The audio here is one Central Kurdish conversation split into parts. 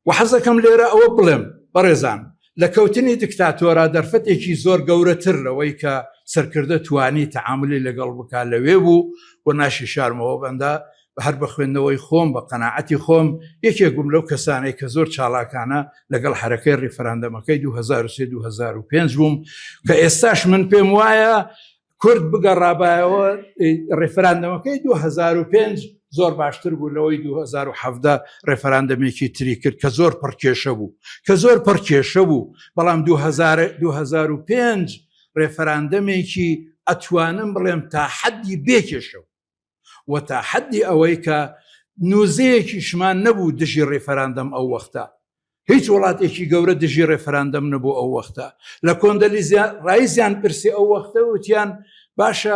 وە حەزەکەم لێرە ئەوە بڵێم بەڕێزان لە کەوتنی دکتاتۆرا دەرفەتێکی زۆر گەورە تر لەوەی کە سەرکردە توانی تەعاملی لەگەڵ بکا لەوێ بوو وە ناشی شارمەوە بەندە بە هەر بە خوێندنەوەی خۆم بە قەناعەتی خۆم یەکێک بووم لەو کەسانەی کە زۆر چاڵاکانە لەگەڵ حەرەکەی ڕیفراندەمەکەی 2023 2005 بووم کە ئێستاش من پێم وایە کورد بگەڕابایەوە ڕێفراندەمەکەی دوو هەزار و پێنج زۆر باشتر بوو لەوەی دوو هەزار و حەڤدە ڕێفراندەمێکی تری کرد کە زۆر پڕ کێشە بوو کە زۆر پڕ کێشە بوو بەڵام دوو هەزار و دوو هەزار و پێنج ڕێفراندەمێکی ئەتوانم بڵێم تا حەدی بێ کێشە بوو و تا حەدی ئەوەی کە نوزەیەکیشمان نەبوو دژی ڕیفەراندەم ئەو وەختە هیچ وڵاتێکی گەورە دژی ڕێفراندەم نەبوو ئەو وەختە لە کۆندەلیزیان ڕایزیان پرسی ئەو وەختە وتیان باشە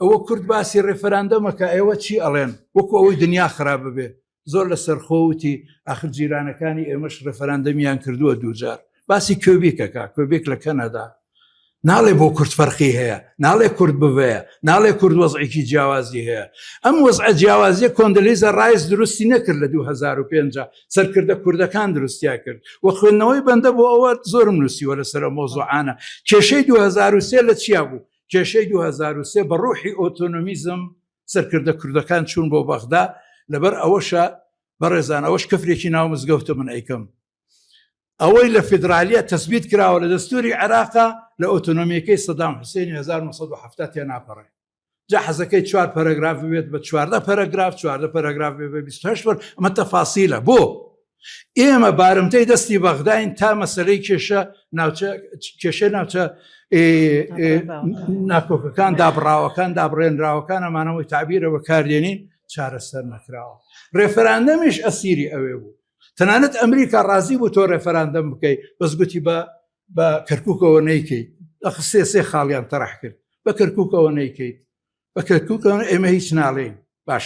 ئەوە کورد باسی ڕێفراندەمەکە ئێوە چی ئەڵێن وەکو ئەوەی دنیا خراپ ببێ زۆر لە سەرخۆوتی ئاخر جیرانەکانی ئێمەش ڕفراندەمیان کردووە دووجار باسی کوێبیکەکە کوێبێک لە کەنەدا ناڵێ بۆ کورد فەرقی هەیە ناڵێ کورد بڤەیە ناڵێ کورد وەزعێکی جیاوازی هەیە ئەم وەزعە جیاوازیە کۆندلیزە ڕایز دروستی نەکرد لە 2005 سەرکردە کوردەکان دروستیا کرد و خوێندنەوەی بەندە بۆ ئەوە زۆرم نووسیوە لەسەر مۆزۆعانە کێشەی 2023 لە چیا بوو کێشەی 2023 بە ڕوحی ئۆتۆنمیزم سەرکردە کوردەکان چوون بۆ بەغدا لەبەر ئەوەشە بەڕێزان ئەوەش کەفرێکی ناو مزگەوتە من ئەیکەم ئەوەی لە فیدراالیە تەسبیت کراوە لە دەستوری عێراقا لە ئۆتۆنۆمیەکەی سەدام حوسێنی 1970 تێ ناپەڕێ جا حەزەکەی چوار پەرەگراف بێت بە چواردە پەرەگراف چواردە پەرەگراف بێ بە 28 بەر ئەمە تەفاسیلە بۆ ئێمە بارمتەی دەستی بەغداین تا مەسەرەی کێشە کێشە ناوچە ناکۆکەکان دابڕاوەکان دابڕێنراوەکان ئەمانەوەی تعبیرە بەکاردێنین چارەسەر نەکراوە ڕێفراندەمیش ئەسیری ئەوێ بوو تەنانەت ئەمریکا ڕازی بوو تۆ ڕێفراندەم بکەیت بەس گوتی بە بە کەرککەوە نەیکەیت ئەخسێ سێ خاڵیان تەرح کرد بە کەرککەوە نەیکەیت بە کەرککەوە ئێمە هیچ ناڵێین باش